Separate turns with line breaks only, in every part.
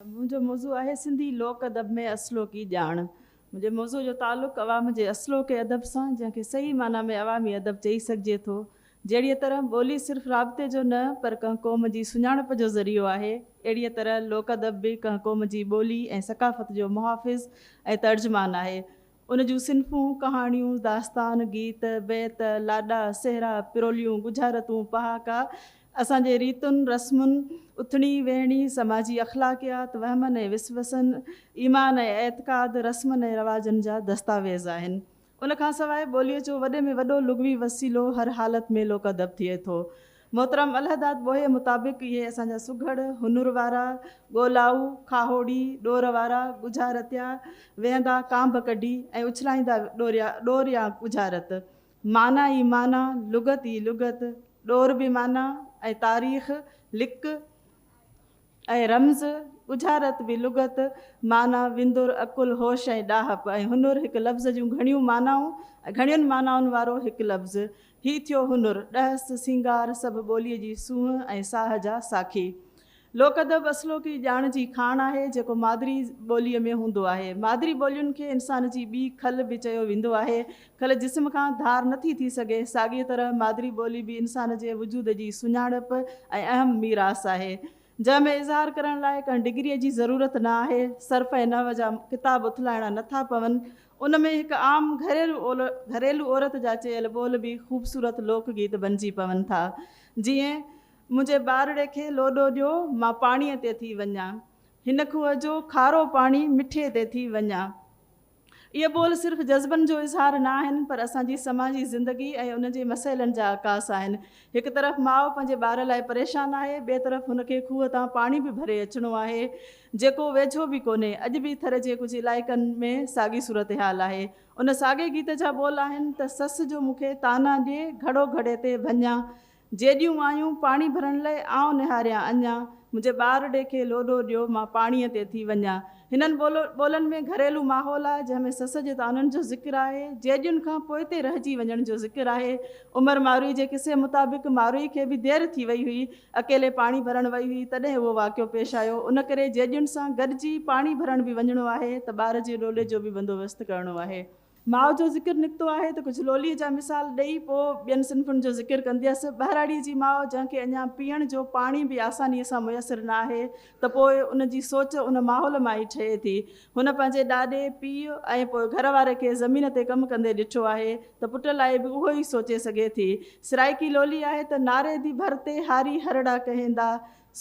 منهنجو موضوع آهي سنڌي لوڪ ادب ۾ اصلوڪي ڄاڻ. منهنجي موضوع جو تعلق عوام جي اصلوڪي ادب سان جنهن کي صحيح معنيٰ ۾ عوامي ادب چئي سگهجي ٿو. جهڙيء طرح ٻولي صرف رابطي جو نه پر ڪنهن قوم جي سڃاڻپ جو ذريعو آهي اهڙيء طرح لوڪ ادب به ڪنهن قوم جي ٻولي ۽ ثقافت جو محافظ ۽ ترجمان آهي. ان جون صنفون، ڪهاڻيون، داستان، گيت، بيت، لاڏا، سهرا، پروليون، ڳجهارتون، پهاڪا، اسان جي ريتن، رسمن، اٿڻي، ويهڻي، سماجي اخلاقيات، وهمن ۽ وسوسن، ايمان ۽ اعتقاد، رسمن ۽ رواجن جا دستاويز آهن. ان کان سواء ٻوليء جو وڏي ۾ وڏو لغوي وسيلو هر حالت ۾ لوڪ ادب ٿئي ٿو. محترم الهداد ٻوهيء مطابق اهي اسان جا سگهڙ، هنور وارا، ڳولائو، کاهوڙي، ڏور وارا، ڳجهارتيا، ويهندا ڪانڀ ڪڍي ۽ اڇلائيندا ڏوريا، ڏور يا ڳجهارت، معنيٰ ئي معنيٰ، لغت ئي لغت، ڏور به معنيٰ ۽ تاريخ، لڪ، ۽ رمز، ڳجهارت به لغت، معنيٰ، وندر، عقل، هوش ۽ ڏاهپ ۽ هنر هڪ لفظ جون گهڻيون معنائون ۽ گهڻين معنائن وارو هڪ لفظ. هي ٿيو هنر، ڏهس، سينگار، سڀ ٻوليء جي سونهن ۽ ساهه جا ساکي. لوڪ ادب اصلوڪي ڄاڻ جي کاڻ آهي، جيڪو مادري ٻوليء ۾ هوندو آهي. مادري ٻولين کي انسان جي ٻي کل به چيو ويندو آهي، کل جسم کان ڌار نٿي ٿي سگهي، ساڳيء طرح مادري ٻولي به انسان جي وجود جي سڃاڻپ ۽ اهم ميراث آهي، جنهن ۾ اظهار ڪرڻ لاء ڪنهن ڊگريء جي ضرورت نه آهي. صرف ۽ نحو جا ڪتاب اٿلائڻا نٿا پون، ان ۾ هڪ عام گهريلو عورت جا چيل ٻول به خوبصورت لوڪ گيت بنجي پون ٿا، جيئن، منهنجي ٻارڙي کي لوڏو ڏيو، مان پاڻيء تي ٿي وڃان. هن کوهه جو کارو پاڻي مٺي تي ٿي وڃان. اهي ٻول صرف جذبن جو اظهار نه آهن، پر اسان جي سماجي زندگي ۽ ان جي مسئلن جا عڪاس آهن. هڪ طرف ماء پنهنجي ٻار لاء پريشان آهي، ٻئي طرف هن کي کوهه تان پاڻي به ڀري اچڻو آهي، جيڪو ويجهو به ڪونهي. اڄ به ٿر جي ڪجهه علائقن ۾ ساڳي صورتحال آهي. ان ساڳئي گيت جا ٻول آهن ته سس جو مون کي طعنا ڏي، گهڙو گهڙي تي ڀڃان، جيڏيون آيون پاڻي ڀرڻ لئي آئون نهاريان اڃا منهنجي ٻار ڙي کي لوڏو ڏيو مان پاڻيء تي ٿي وڃان هنن ٻولن ۾ گهريلو ماحول آهي جنهن ۾ سس جي طعنن جو ذڪر آهي جيڏين کان پوئتي رهجي وڃڻ جو ذڪر آهي عمر ماروئي جي قصي مطابق ماروئي کي به دير ٿي وئي هئي اڪيلي پاڻي ڀرڻ وئي هئي تڏهن اهو واقعو پيش آيو ان ڪري جيڏين سان گڏجي پاڻي ڀرڻ به وڃڻو آهي ته ٻار جي ڏوڏي جو به بندوبست ڪرڻو آهي. ماء جو ذڪر نڪتو آهي ته ڪجهه لوليء جا مثال ڏئي پوء ٻين صنفن جو ذڪر ڪنديس. ٻهراڙيء جي ماء جنهن کي اڃا پيئڻ جو پاڻي به آسانيء سان ميسر نه آهي ته پوء ان جي سوچ ان ماحول مان ئي ٺهي ٿي. هن پنهنجي ڏاڏي، پيء ۽ پوء گهر واري کي زمين تي ڪم ڪندي ڏٺو آهي ته پٽ لاء به اهو ئي سوچي سگهي ٿي. سرائيڪي لولي آهي ته ناريدي ڀر تي هاري هرڙا ڪهيندا،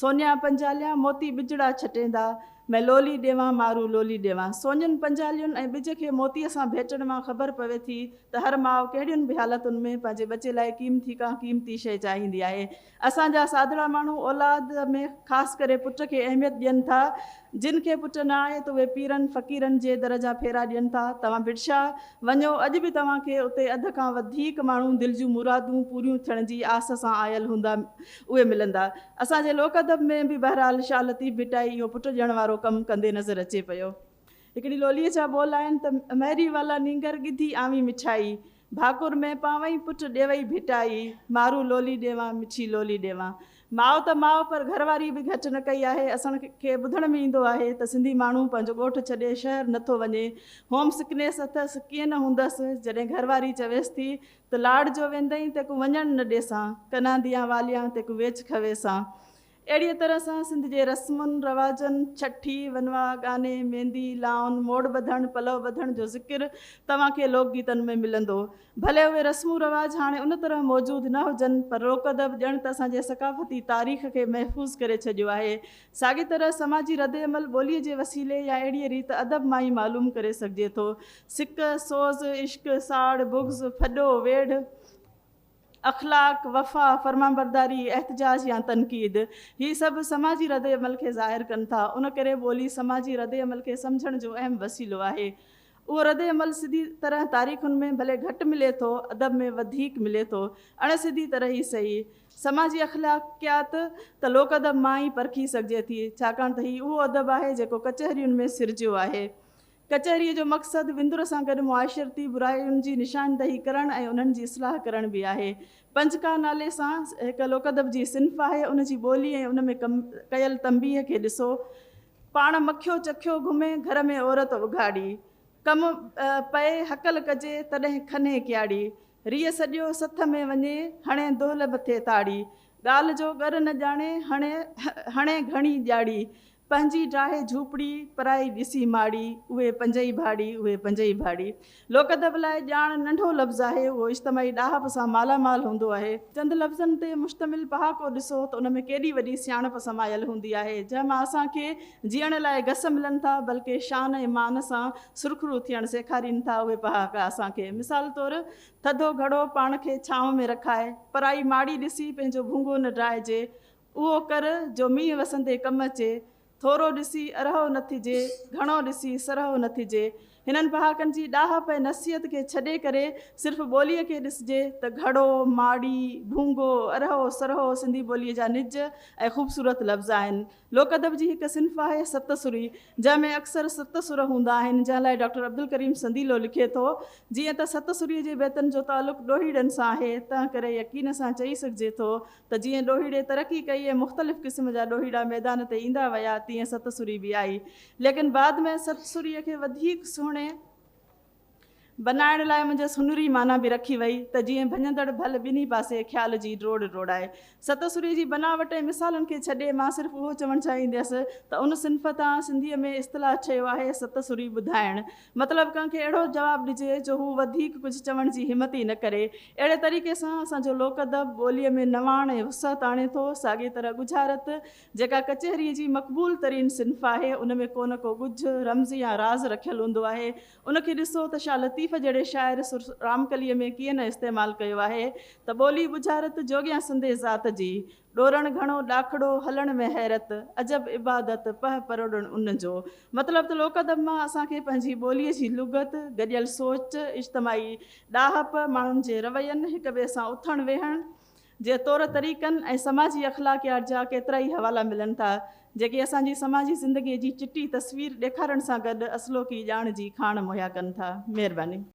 سونيا پنجاليان موتي ٻجڙا ڇٽيندا، مين لولي ڏيوان مارو لولي ڏيوان. سونين پنجالين ۽ ٻج کي موتيء سان ڀيٽڻ مان خبر پوي ٿي ته هر ماء ڪهڙين به حالتن ۾ پنهنجي ٻچي لاء قيمتي ڪا قيمتي شيء چاهيندي آهي. اسان جا سادڙا ماڻهو اولاد ۾ خاص ڪري پٽ کي اهميت ڏين ٿا. جن کي پٽ نه آهي ته اهي پيرن فقيرن جي در جا ڦيرا ڏين ٿا. توهان ڀٽشا وڃو اڄ به توهان کي اتي اڌ کان وڌيڪ ماڻهو دل جون مرادون پوريون ٿيڻ جي آس سان آيل هوندا. اهي ملندا. اسان جي لوڪ ادب ۾ به بهرحال شاهه لطيف ڀٽائي اهو پٽ ڏيڻ وارو ڪم ڪندي نظر اچي پيو. هڪڙي لوليء جا ٻول آهن ته، مهري والا نينگر ڳڌي آوين مٺائي، ڀاڪر ۾ پاوئين پٽ ڏيوئي ڀٽائي، مارون لولي ڏيوان مٺي لولي ڏيوان. ماء ته ماء پر گهر واريء به گهٽ نه ڪئي آهي. اسان کي ٻڌڻ ۾ ايندو آهي ته سنڌي ماڻهو پنهنجو ڳوٺ ڇڏي شهر نه ٿو وڃي. هوم سڪنيس اٿس، ڪيئن نه هوندس، جڏهن گهر واري چويس ٿي ته لاڙ جو ويندئين تيڪون وڃڻ نه ڏيسان، ڪنانديان واليان تيڪون ويچ کويسان. اهڙيء طرح سان سنڌ جي رسمن رواجن، ڇٺي، ونواء، ڳاني، ميندي، لائون، موڙ ٻڌڻ، پلؤ ٻڌڻ جو ذڪر توهان کي لوڪ گيتن ۾ ملندو. ڀلي اهي رسم و رواج هاڻي ان طرح موجود نه هجن، پر روڪ ادب ڄڻ ته اسان جي ثقافتي تاريخ کي محفوظ ڪري ڇڏيو آهي. ساڳي طرح سماجي رد عمل ٻوليء جي وسيلي يا اهڙيء ريت ادب مان ئي معلوم ڪري سگهجي ٿو. سڪ، سوز، عشق، ساڙ، بغض، ڦڏو، ويڙهه، اخلاق، وفا، فرمانبرداري، احتجاج يا تنقيد، هي سڀ سماجي ردعمل کي ظاهر ڪن ٿا. ان ڪري ٻولي سماجي ردعمل کي سمجهڻ جو اهم وسيلو آهي. اهو ردعمل سڌي طرح تاريخن ۾ ڀلي گهٽ ملي ٿو، ادب ۾ وڌيڪ ملي ٿو. اڻ سڌي طرح ئي سهي، سماجي اخلاقيات ته لوڪ ادب مان ئي پرکي سگهجي ٿي، ڇاڪاڻ ته هي اهو ادب آهي جيڪو ڪچهرين ۾ سرجيو آهي. ڪچهريء جو مقصد وندر سان گڏ معاشرتي براين جي نشاندهي ڪرڻ ۽ انهن جي اصلاح ڪرڻ به آهي. پنجڪا نالي سان هڪ لوڪادب جي صنف آهي، ان جي ٻولي ۽ ان ۾ ڪيل تنبيهه کي ڏسو، پاڻ مکيو چکيو گهمي، گهر ۾ عورت اگهاڙي. ڪم پئي هڪل ڪجي، تڏهن کنهي ڪياڙي. ريء سڏيو سٿ ۾ وڃي، هڻي دهل مٿي تاڙي. ڳالهه جو ڳر نه ڄاڻي، هڻي هڻي گهڻي ڄاڙي. پنهنجي ڊاهي جهوپڙي، پرائي ڏسي ماڙي، اهي پنجئي ڀاڙي، اهي پنجئي ڀاڙي. لوڪ ادب لاء ڄاڻ ننڍو لفظ آهي، اهو اجتماعي ڏاهپ سان مالا مال هوندو آهي. چند لفظن تي مشتمل پهاڪو ڏسو ته ان ۾ ڪيڏي وڏي سياڻپ سمايل هوندي آهي، جنهن مان اسان کي جيئڻ لاء گس ملن ٿا، بلڪه شان ۽ مان سان سرخرو ٿيڻ سيکارين ٿا. اهي پهاڪا اسان کي مثال طور، ٿڌو گهڙو پاڻ کي ڇانو ۾ رکائي، پرائي ماڙي ڏسي پنهنجو ڀونگو نه ڊاهجي، اهو ڪر، جو مينهن وسندي ڪم اچي. ٿورو ڏسي، ارهو نه ٿجي، گهڻو ڏسي، سرهو نه ٿجي. هنن پهاڪن جي ڏاهپ ۽ نصيحت کي ڇڏي ڪري، صرف ٻوليء کي ڏسجي ته گهڙو، ماڙي، ڀونگو، ارهو، سرهو سنڌي ٻوليء جا نج ۽ خوبصورت لفظ آهن. لوڪ ادب جي هڪ صنف آهي ست سري، جنهن ۾ اڪثر ست سر هوندا آهن، جنهن لاء ڊاڪٽر عبدالڪريم سنديلو لکي ٿو، جيئن ته ست سريء جي بيتن جو تعلق ڏوهيڙن سان آهي، تنهنڪري يقين سان چئي سگهجي ٿو ته جيئن ڏوهيڙي ترقي ڪئي ۽ مختلف قسم جا ڏوهيڙا ميدان تي ايندا ويا تيئن ست سري به آئي ليڪن بعد ۾ ست سري کي وڌيڪ سهڻي بنائڻ لاء منجهس هنري معنيٰ به رکي وئي ته جيئن ڀڃندڙ ڀل ٻنهي پاسي خيال جي ڊوڙ ڊوڙائي. ست سري جي بناوٽ ۽ مثالن کي ڇڏي مان صرف اهو چوڻ چاهينديس ته ان صنف تان سنڌيء ۾ اصطلاح ٺهيو آهي ست سري ٻڌائڻ مطلب ڪنهن کي اهڙو جواب ڏجي جو هو وڌيڪ ڪجهه چوڻ جي همت ئي نه ڪري. اهڙي طريقي سان اسان جو لوڪ ادب ٻوليء ۾ نواڻ ۽ وسعت آڻي ٿو. ساڳيء طرح ڳجهارت، جيڪا ڪچهريء جي مقبول ترين صنف آهي، ان ۾ ڪو نه ڪو ڳجهه، رمز يا راز رکيل هوندو آهي. ان کي ڏسو ته شاهه لطيف جهڙي شاعر سر رامڪليء ۾ ڪيئن نه استعمال ڪيو آهي ته ٻولي ڳجهارت جوڳيان سندي ذات جي، ڏورڻ گهڻو ڏاکڙو، هلڻ ۾ حيرت، عجب عبادت، پهه پروڙڻ ان جو. مطلب ته لوڪ ادب مان اسان کي پنهنجي ٻوليء جي لغت، گڏيل سوچ، اجتماعي ڏاهپ، ماڻهن جي روين، هڪ ٻئي سان اٿڻ ويهڻ جي طور طريقن ۽ سماجي اخلاقيات جا ڪيترائي حوالا ملن ٿا، جيڪي اسان جي سماجي زندگيء جي چٽي تصوير ڏيکارڻ سان گڏ اصلوڪي ڄاڻ جي کاڻ مهيا ڪن ٿا. مهرباني.